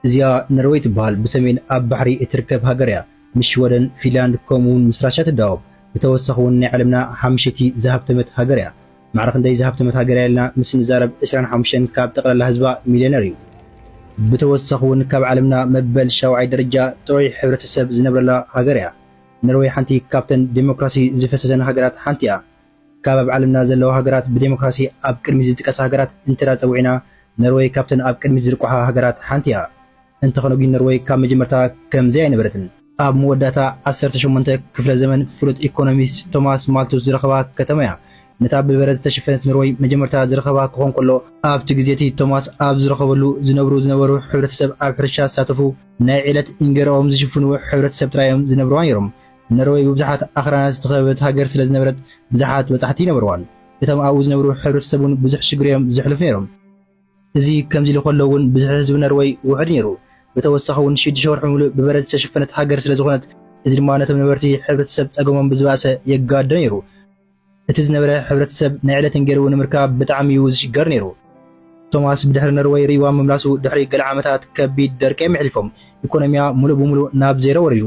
እዚኣ ነርወይ ትበሃል ብሰሜን ኣብ ባሕሪ እትርከብ ሃገር እያ ምስ ሽወደን ፊንላንድ ከምኡ ውን ምስ ራሻ ትዳወብ ብተወሳኺ ውን ናይ ዓለምና ሓምሸቲ ዝሃብተመት ሃገር እያ ማዕረ ክንደይ ዝሃብተመት ሃገር እያ ኢልና ምስ ንዛረብ ዕስራን ሓሙሽተን ካብ ጠቅላላ ህዝባ ሚልዮነር እዩ ብተወሳኺ ውን ካብ ዓለምና መበል ሻውዓይ ደረጃ ጥዑይ ሕብረተሰብ ዝነብረላ ሃገር እያ ነርወይ ሓንቲ ካብተን ዴሞክራሲ ዝፈሰሰን ሃገራት ሓንቲ እያ ካብ ኣብ ዓለምና ዘለዋ ሃገራት ብደሞክራሲ ኣብ ቅድሚት ዝጥቀሳ ሃገራት እንተዳጸዊዕና ኖርወይ ካብተን ኣብ ቅድሚት ዝርቋሓ ሃገራት ሓንቲ'ያ። እንተኾነ ጒን ኖርወይ ካብ መጀመርታ ከምዚ ኣይነበረትን። ኣብ መወዳእታ ዓሰርተ ሸሞንተ ክፍለ ዘመን ፍሉጥ ኢኮኖሚስት ቶማስ ማልቱስ ዝረኸባ ከተማ'ያ። ነታ ብበረድ ዝተሸፈነት ኖርወይ መጀመርታ ዝረኸባ ክኾን ከሎ፣ ኣብቲ ግዜ'ቲ ቶማስ ኣብ ዝረኸበሉ ዝነብሩ ዝነበሩ ሕብረተሰብ ኣብ ሕርሻ ዝሳተፉ ናይ ዕለት ኢንገራኦም ዝሽፍኑ ሕብረተሰብ ጥራይ'ዮም ዝነብርዋ ነይሮም። ነርወይ ብብዙሓት ኣኽራናት ዝተኸበበት ሃገር ስለ ዝነበረት ብዙሓት በጻሕቲ ይነበርዋን እቶም ኣብኡ ዝነብሩ ሕብረተሰብ እውን ብዙሕ ሽግር እዮም ዘሕልፉ ነይሮም። እዚ ከምዚ ኢሉ ከሎ እውን ብዝሒ ህዝቢ ነርወይ ውሑድ ነይሩ። ብተወሳኺ እውን ሽዱሽተ ወርሒ ምሉእ ብበረድ ዝተሸፈነት ሃገር ስለ ዝኾነት እዚ ድማ ነቶም ነበርቲ ሕብረተሰብ ጸገሞም ብዝባእሰ የጋድዶ ነይሩ። እቲ ዝነበረ ሕብረተሰብ ናይ ዕለትን ገይሩ ንምርካብ ብጣዕሚ እዩ ዝሽገር ነይሩ። ቶማስ ብድሕሪ ነርወይ ርእይዋ ምምላሱ ድሕሪ ገለ ዓመታት ከቢድ ደርቂ እዮም የሕሊፎም። ኢኮኖሚያ ሙሉእ ብሙሉእ ናብ ዜሮ ወሪዱ።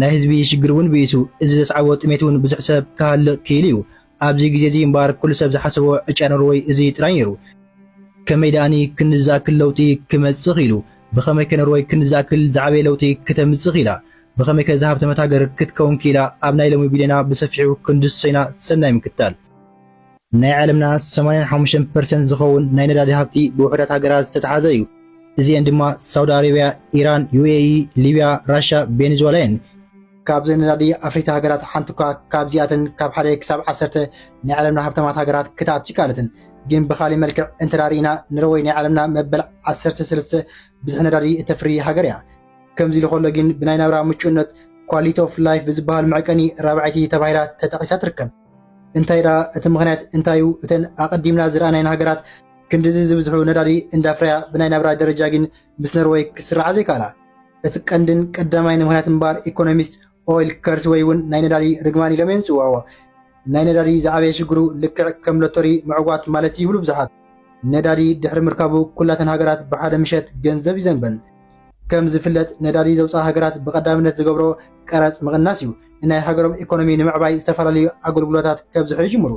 ናይ ህዝቢ ሽግር እውን ብኢሱ። እዚ ዘስዓቦ ጥሜት እውን ብዙሕ ሰብ ክሃልቕ ክኢሉ እዩ። ኣብዚ ግዜ እዚ እምበኣር ኩሉ ሰብ ዝሓሰቦ ዕጫ ነርወይ እዚ ጥራይ ነይሩ። ከመይ ደኣኒ ክንዲ ዝኣክል ለውጢ ክመፅእ ክኢሉ? ብኸመይ ከ ነርወይ ክንዲ ዝኣክል ዝዓበየ ለውጢ ክተምፅእ ክኢላ? ብኸመይ ከ እዛ ሃብተመት ሃገር ክትከውን ኪኢላ ኣብ ናይ ሎሚ ቢልየና ብሰፊሑ ክንድሰይና ሰናይ ምክታል። ናይ ዓለምና ሰማንያ ን ሓሙሽተን ፐርሰንት ዝኸውን ናይ ነዳዲ ሃብቲ ብውሑዳት ሃገራት ዝተትሓዘ እዩ። እዚኤን ድማ ሳውዲ ኣረብያ፣ ኢራን፣ UAE፣ ሊብያ፣ ራሻ፣ ቬንዝዋላ እየን። ካብዘን ነዳዲ ኣፍሪቲ ሃገራት ሓንቲ እኳ ካብዚኣተን ካብ ሓደ ክሳብ ዓሰርተ ናይ ዓለምና ሃብታማት ሃገራት ክትኣቱ ኣይከኣለትን። ግን ብኻሊእ መልክዕ እንተ ሪኢና ኖርወይ ናይ ዓለምና መበል ዓሰርተ ሰለስተ ብዝሒ ነዳዲ እተፍሪ ሃገር እያ። ከምዚ ኢሉ ከሎ ግን ብናይ ናብራ ምቹእነት ኳሊቲ ኦፍ ላይፍ ብዝበሃል መዕቀኒ ራብዐይቲ ተባሂላ ተጠቒሳ ትርከብ። እንታይ ደኣ እቲ ምኽንያት እንታይ እዩ? እተን ኣቐዲምና ዝረኣናየን ሃገራት ክንድዚ ዝብዝሑ ነዳዲ እንዳፍረያ ብናይ ናብራ ደረጃ ግን ምስ ኖርወይ ክስርዓ ዘይከኣላ እቲ ቀንድን ቀዳማይን ምኽንያት እምበኣር ኢኮኖሚስት ኦይል ከርስ ወይ ውን ናይ ነዳዲ ርግማን ኢሎም እዮም ዝጽውዕዎ። ናይ ነዳዲ ዝዓበየ ሽግሩ ልክዕ ከም ሎቶሪ ምዕጓት ማለት እዩ ይብሉ ብዙሓት። ነዳዲ ድሕሪ ምርካቡ ኩላተን ሃገራት ብሓደ ምሸት ገንዘብ ይዘንበን። ከም ዝፍለጥ ነዳዲ ዘውጽኣ ሃገራት ብቐዳምነት ዝገብሮ ቀረጽ ምቕናስ እዩ። ንናይ ሃገሮም ኢኮኖሚ ንምዕባይ ዝተፈላለዩ ኣገልግሎታት ከብዝሑ ይጅምሩ።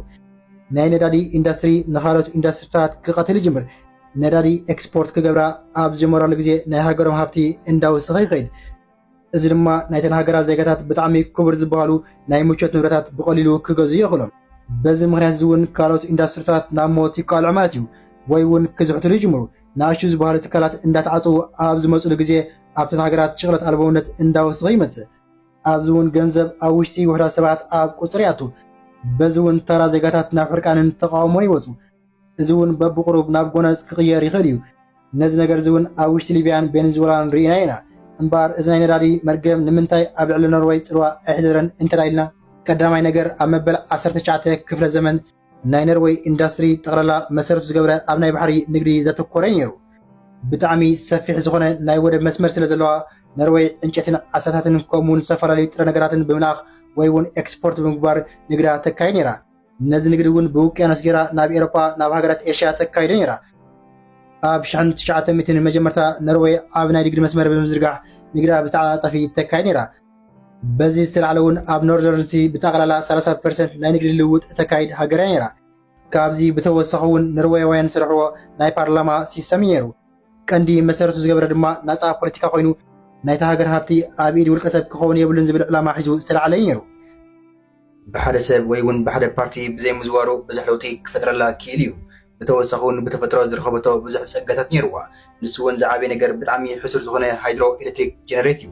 ናይ ነዳዲ ኢንዳስትሪ ንኻልኦት ኢንዳስትሪታት ክቐትል ይጅምር። ነዳዲ ኤክስፖርት ክገብራ ኣብ ዝጀመራሉ ግዜ ናይ ሃገሮም ሃብቲ እንዳወሰኸ ይኸይድ። እዚ ድማ ናይተን ሃገራት ዜጋታት ብጣዕሚ ክቡር ዝበሃሉ ናይ ምቾት ንብረታት ብቐሊሉ ክገዝኡ የኽእሎም። በዚ ምኽንያት እዚ እውን ካልኦት ኢንዳስትሪታት ናብ ሞት ይቃልዑ ማለት እዩ ወይ እውን ክዝሕትሉ ይጅምሩ። ንኣሽቱ ዝበሃሉ ትካላት እንዳተዓፀዉ ኣብ ዝመፅሉ ግዜ ኣብተን ሃገራት ሽቕለት ኣልቦውነት እንዳወሰኸ ይመፅእ። ኣብዚ እውን ገንዘብ ኣብ ውሽጢ ውሑዳት ሰባት ኣብ ቁፅሪ ይኣቱ። በዚ እውን ተራ ዜጋታት ናብ ሕርቃንን ተቓውሞን ይወፁ። እዚ እውን በብቑሩብ ናብ ጎነጽ ክቕየር ይኽእል እዩ። ነዚ ነገር እዚ እውን ኣብ ውሽጢ ሊብያን ቤንዝወላን ርኢናዮ ኢና። እምበኣር እዚ ናይ ነዳዲ መርገም ንምንታይ ኣብ ልዕሊ ኖርወይ ጽልዋ ኣየሕደረን እንተ ኢልና፣ ቀዳማይ ነገር ኣብ መበል ዓሰርተ ትሽዓተ ክፍለ ዘመን ናይ ነርወይ ኢንዳስትሪ ጠቕላላ መሰረቱ ዝገብረ ኣብ ናይ ባሕሪ ንግዲ ዘተኮረ እዩ ነይሩ። ብጣዕሚ ሰፊሕ ዝኾነ ናይ ወደብ መስመር ስለ ዘለዋ፣ ነርወይ ዕንጨትን ዓሳታትን ከምኡ እውን ዝተፈላለዩ ጥረ ነገራትን ብምልኣኽ ወይ እውን ኤክስፖርት ብምግባር ንግዳ ተካይድ ነይራ። ነዚ ንግዲ እውን ብውቅያኖስ ገይራ ናብ ኤሮፓ ናብ ሃገራት ኤሽያ ተካይዶ ነይራ። ኣብ ሽሕን ትሽዓተ ሚእትን መጀመርታ ኖርወይ ዓቢ ናይ ንግዲ መስመር ብምዝርጋሕ ንግዳ ብተዓጻጻፊ ተካይድ ነይራ። በዚ ዝተላዕለ እውን ኣብ ኖርዘርን ሲ ብጠቕላላ ሰላሳ ፐርሰንት ናይ ንግዲ ልውውጥ እተካይድ ሃገር እያ ነይራ። ካብዚ ብተወሳኺ እውን ኖርወያውያን ዝሰርሕዎ ናይ ፓርላማ ሲስተም እዩ ነይሩ። ቀንዲ መሰረቱ ዝገበረ ድማ ናጻ ፖለቲካ ኮይኑ ናይታ ሃገር ሃብቲ ኣብ ኢድ ውልቀ ሰብ ክኸውን የብሉን ዝብል ዕላማ ሒዙ ዝተላዕለ እዩ ነይሩ። ብሓደ ሰብ ወይ እውን ብሓደ ፓርቲ ብዘይምዝዋሩ ብዙሕ ለውጢ ክፈጥረላ ክኢሉ እዩ። ብተወሳኺ እውን ብተፈጥሮ ዝረኸበቶ ብዙሕ ፀጋታት ነይሩዋ። ንሱ እውን ዝዓበየ ነገር ብጣዕሚ ሕሱር ዝኾነ ሃይድሮ ኤሌክትሪክ ጀነሬት እዩ።